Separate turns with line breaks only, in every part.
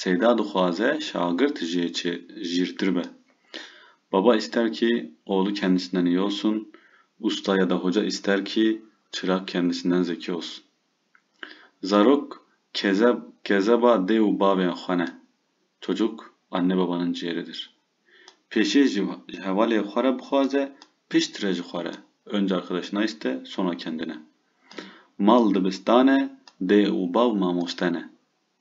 Seyda dixwaze şagirt jê çi jîrtir be. Baba ister ki oğlu kendisinden iyi olsun, usta ya da hoca ister ki çırak kendisinden zeki olsun. Zarok keze kezeba dê û bavên xwe ne. Çocuk anne babanın ciyeridir. Pêşê ji ji hevalê xwe re bixwaze, pişt re ji xwe re, önce arkadaşına iste, sonra kendine. Mal dibistane, dê û bav mamoste ne.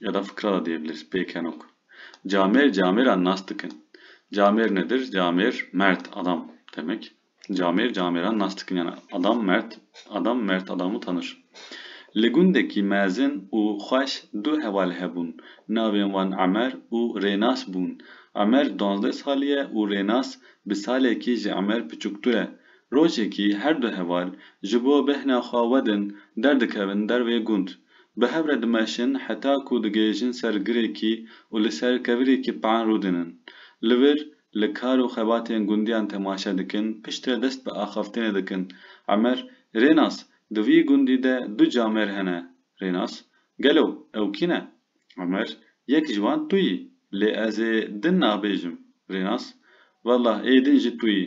Gada fikra da diyebiliriz pêk heno ku camêr camêran nas dikin. Camêr nedir? Camêr merd, adam demek. Camêr camêran nas dikin yani adam merd, adam merd adamı tanır. Li gundekî mezin û xweş du heval hebûn. Navên wan Emer û Rênas bûn. Emer duwazdeh salî ye û Rênas bi salekî ji Emer piçûktir e. Rojekî her du heval ji bo bêhna xwe wedin derdikevin dervê gund. Bi hev re dimeşin heta ku digihêjin ser girekî û li ser kevirêkî pean rûdinin. Li vir, li kar û xebatên gundiyan temaşe dikin, pişt re dest bi axaftinê dikin. Emer, Rênas, di vî gundî de du camêr hene. Rênas, Gelo, ew kî ne? Emer, Yek ji wan tu yî. Lê ez ê din nabêjim. Rênas, Valah ê din jî tu yî.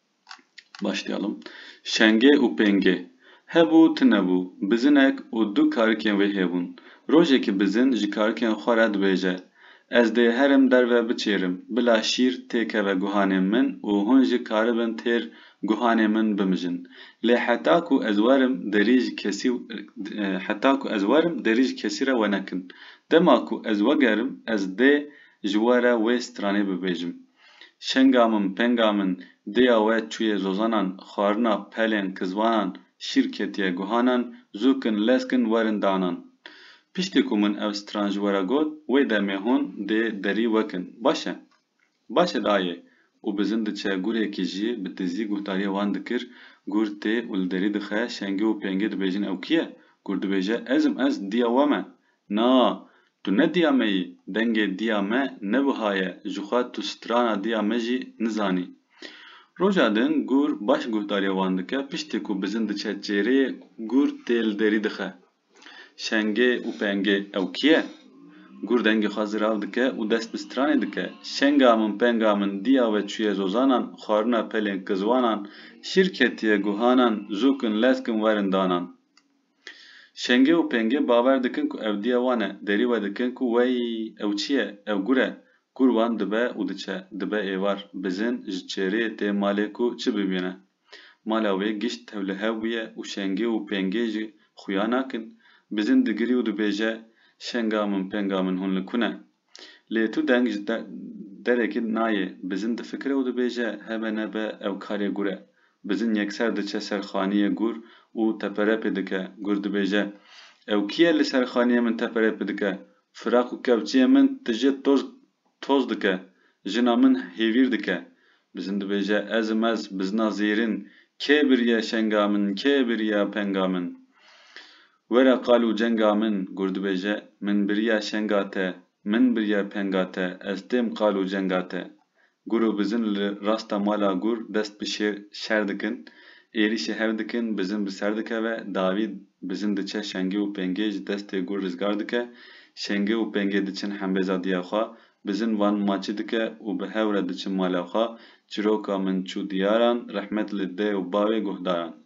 Başlayalım. Şengê û pêngê. Hebû tine bû. Bizinek û du karikên wê hêbûn. Rojekî bizin ji karikên xwe re dibêje, Ez dê herim derve biçêrim, bila şîr têkeve guhanên min û hûn jî karibin têr guhanê min bimijin. Lê heta ku ez werim derî ji kesî heta ku ez werim derî ji kesî re wenekin. Dema ku ez wegerim ez dê ji we re wê stranê bibêjim. Şenga min penga min dêya we çûyê zozanan xwarina pelên kizwanan şîr ketiye guhanan zûk in lez kin werin danan. Piştî ku min ev stran ji we re got wê demê hûn dê derî we kin baş e? Baş e dayê! û bi zin diçe gurê kî jî bi tizî guhdariyê wan dikir gur tê û li derî dixe şengê û pêngê dibêjin ew kî ye? Gur dibêje ez im ez dîya we me Na, tu ne diya me yî, dengê diya me ne wiha ye, jixwe tu strana diya me jî nizanî. Roja din gûr baş guhdariya wan dike, piştî ku bizin diçe çêreyê gûr tê li derî dixe. Şengê û pengê ew kî ye? Gûr dengê xwe zirav dike û dest bi stranê dike, Şenga min penga min diya we çûye zozanan, xwarina pelên kizwanan, şîr ketiye guhanan, zûk in lezk in werin danan. Şenge û penge bawer dikin ku ew diya wan e, derî we dikin ku wey ew çi ye, ew gur e. Gur wan dibe û diçe, dibe êvar, bizin ji çêreyê tê malê ku çi bibîne. Mala wê gişt tevlihev bûye û şengê û pengê ji xuya nakin. Bizin digirî û dibêje, Şenga min, penga min hûn li ku ne? Lê tu deng ji derekê dinayê, bizin difikire û dibêje hebe nebe ew karê gur e. Bizin yekser diçe ser xaniyê gur û teperepê dike. Gur dibêje, Ew kî ye li ser xaniyê min teperepê dike? Firaq û kevçiyê min tije toz toz dike. Jina min hêvîr dike. Bizin dibêje, Ez im ez, bizina zêrîn, kê biriye şenga min, kê biriye penga min? Were qal û cenga min gur dibêje, Min biriya şenga te, min biriya penga te, Ez têm qal û cenga te. Gur û bizin li rasta mala gur dest bi şêr şer dikin, êrîşê hev dikin, bizin bi ser dikeve, dawî bizin diçe şengê û pengê ji destê gur rizgar dike, şengê û pengê diçin hembêza diya xwe, bizin van ma çi dike û bi hew re diçin mala xwe, Çiroka min çû diyaran, rehmet li dê û bavê guhdaran.